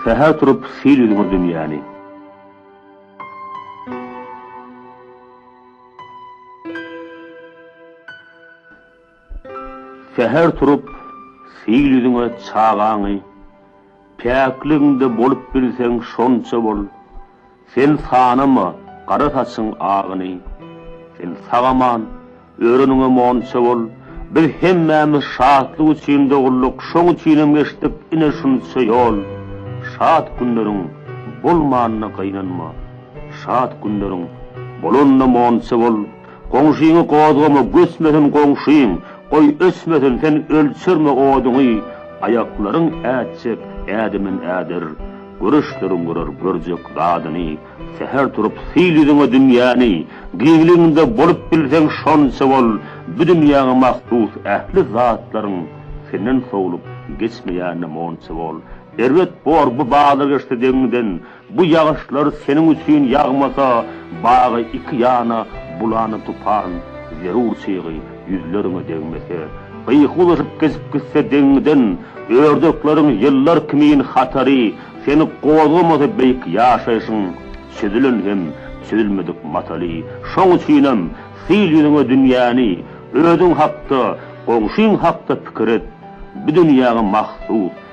Säher turup sil ýüzüňe dünýäni. Säher turup sil ýüzüňe çagaňy. Päkligiňde bolup bilseň şonça bol, Sen sanama gara saçyň agyny. Sen sag aman, öreniňe monça bol, Biz hemmämiz şatlyk üçin dogulduk, Şoň üçinem geçdik ine şunça ýol. Şat günleriň bolmanyna gynanma, Şat günleriň bolanyna monça bol. Goňşyňy gozgama göçmesin goňşyň, goý öçmesin sen ölçerme oduňy aýaklaryň ätjek ädimin äder, görüşleriň görer görjek zadyny säher turup syl ýüzüňe dünýäni giňliginde bolup bilseň şonça bol bu dünýäňe mahsus ähli zatlaryň senden sowlup geçmeýänine monça bol erbet bor bu bazargeçde deňiňden Bu ýagyşlar seniň üçin ýagmasa, bagy iki ýana bulany tupan, zerur çygy ýüzleriňe degmese, gyýyk uzaşyp geçip gitse deňiňden, ördekleriň ýyllar kimin hatary seni gozgamasa beýik ýaşaýşyň çözülen hem çözülmedik mataly, şoň üçinem syl ýüzüňe dünýäni, özüň hakda, goňşyň hakda pikir et, bu dünýäňe mahsus